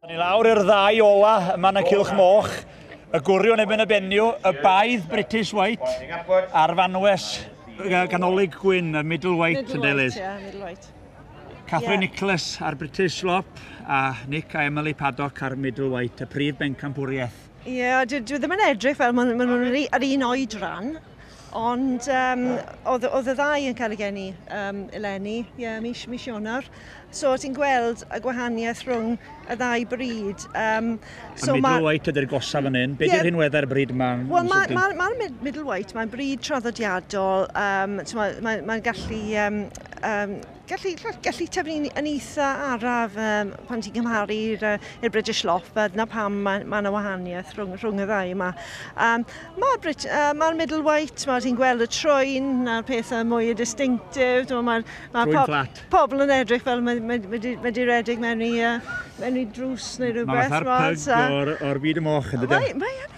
Ni lawr i'r ddau ola yma yn y cilch moch, y gwriwn ebyn y benniw, y baedd British White a'r fanwes ganolig gwyn, y middle white yn deilydd. Catherine Nicholas a'r British Slop a Nick a Emily Paddock a'r middle white, y prif bencampwriaeth. Ie, yeah, dwi, dwi ddim yn edrych fel maen nhw'n ma yr un oed rhan. Ond um, oedd, oedd y ddau yn cael ei geni um, eleni, ie, yeah, mis, mis Ionar. So ti'n gweld y gwahaniaeth rhwng y ddau bryd. Um, so a middleweight ydy'r gosaf yn un. Be yeah, hyn wedda'r bryd yma? Wel, mae'r ma, ma, ma middleweight, mae'n bryd traddodiadol. Um, Mae'n ma, ma gallu um, um, Gallu, gallu tyfu yn eitha araf um, pan ti'n cymharu i'r uh, British Loft, fel dyna pam mae ma yna wahaniaeth rhwng, rhwng y ddau yma. Um, Mae'r uh, ma middle white, mae ti'n gweld y troen, na'r pethau mwy y distinctif, mae'r ma, ma pob, pobl yn edrych fel mae, mae, mae, di, mae di redeg mewn i, uh, mewn i drws neu rhywbeth. Mae fatha'r pyg o'r, or byd y moch yn dydyn. Mae, mae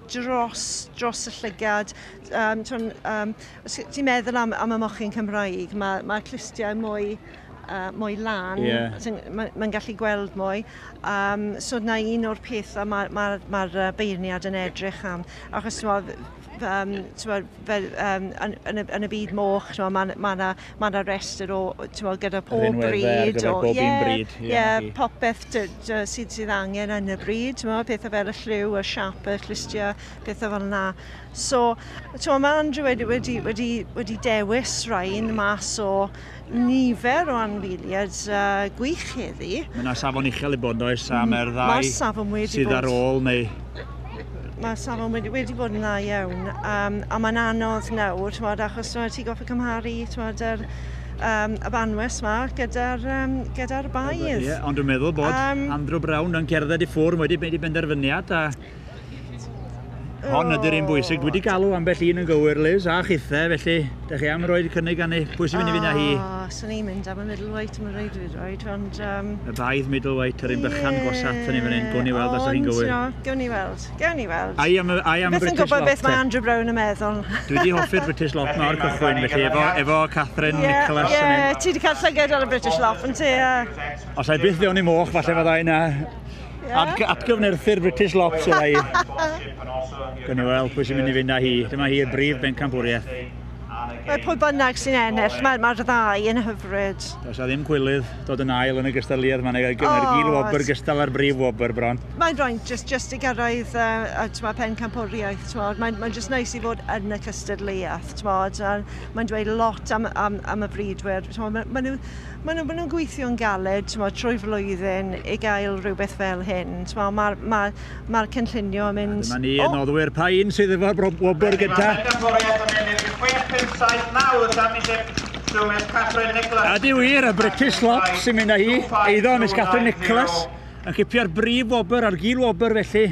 dros dros y llygad. Um, tw'n, um, os ti'n meddwl am, am y mochyn Cymraeg, mae, mae clustiau mwy, uh, mwy lan, yeah. mae'n ma gallu gweld mwy. Um, so na un o'r pethau mae'r ma, ma, ma beirniad yn edrych am. Achos ti'n um, fel, um, yn, yn, y, yn y byd moch, mae'n ma, ma mae yna rhestr o, ti'n gyda pob bryd. Rhinweddau ar gyfer bob yeah, un bryd. Ie, yeah, yeah, popeth sydd, sydd angen yn y bryd, ti'n meddwl, pethau fel y lliw, y siap, y llistiau, pethau fel yna. So, ti'n mae Andrew wedi, wedi, wedi, wedi dewis rhain mas o nifer o anwyliad uh, gwych heddi. Mae yna safon uchel i bod, oes, am mm, mae'r ddau sydd ar ôl, neu Mae'r safon wedi, wedi bod yn dda iawn um, a mae'n anodd nawr, tmod, achos tmod, ti'n goffa cymharu tmod, yr, um, y banwes yma gyda'r um, gyda baedd. Yeah, ond dwi'n meddwl bod um, Andrew Brown yn cerdded i ffwrdd wedi mynd i benderfyniad a Hon ydy'r un bwysig. Dwi wedi galw ambell un yn gywir, Liz, a chithe, felly, da chi am roed cynnig gan ei pwy sy'n mynd i fynd â hi? Swn i'n mynd am y middleweight am y reidrwydd ond yym... Y baedd middleweight yr un bychan gorsaf atyn ni fan hyn, gwn i weld os ydych chi'n gywir. Ond ti'no, gewn ni weld, gewn ni weld. Ai am y British lot te? Fi byth yn gwybod beth mae Andrew Brown yn meddwl. Dwi wedi hoffi'r British lot ma o'r cychwyn felly efo efo Catherine Nicholas yn mynd. Ie, ie, ti wedi cael llyged ar y British lot yn ti? Os ai byth fewn i moch falle fydda i na. Atg atgyfnerthu'r British lot fydda i. Gawn ni weld pwy sy'n mynd i fynd â hi. Dyma hi'r brif bencampwriaeth. Mae pwy bynnag sy'n ennill, mae'r ma ddau yn hyfryd. Does a ddim cwilydd dod yn ail yn y gystadleuaeth, mae'n eich oh, gil wobr gystal â'r brif wobr bron. Mae'n rhaid just, just i gyrraedd uh, twa, pen campwriaeth, twod. mae'n mae just nice i fod yn y cystadleuaeth, twod. mae'n dweud lot am, am, am y bridwyr, twod. mae, mae nhw, Maen nhw, maen nhw'n gweithio'n galed twod, trwy flwyddyn i gael rhywbeth fel hyn. Mae'r ma, ma Mae'r cynllunio yn mynd... A dyma ni yn noddwyr pa un sydd efo'r wobr gyntaf. Mae pencampwriaeth yn ennill 6-5-7-9 y Championship trwy Miss Catherine Nicholas. A di wir, y British Slop sy'n mynd â hi, eiddo Miss Catherine Nicholas, yn cipio'r brif wobr a'r gil wobr felly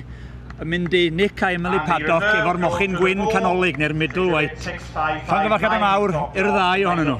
yn mynd i Nick a Emily Paddock efo'r mochyn gwyn canolig neu'r middle weight. Llongyfarchiadau mawr i'r ddau ohonyn nhw.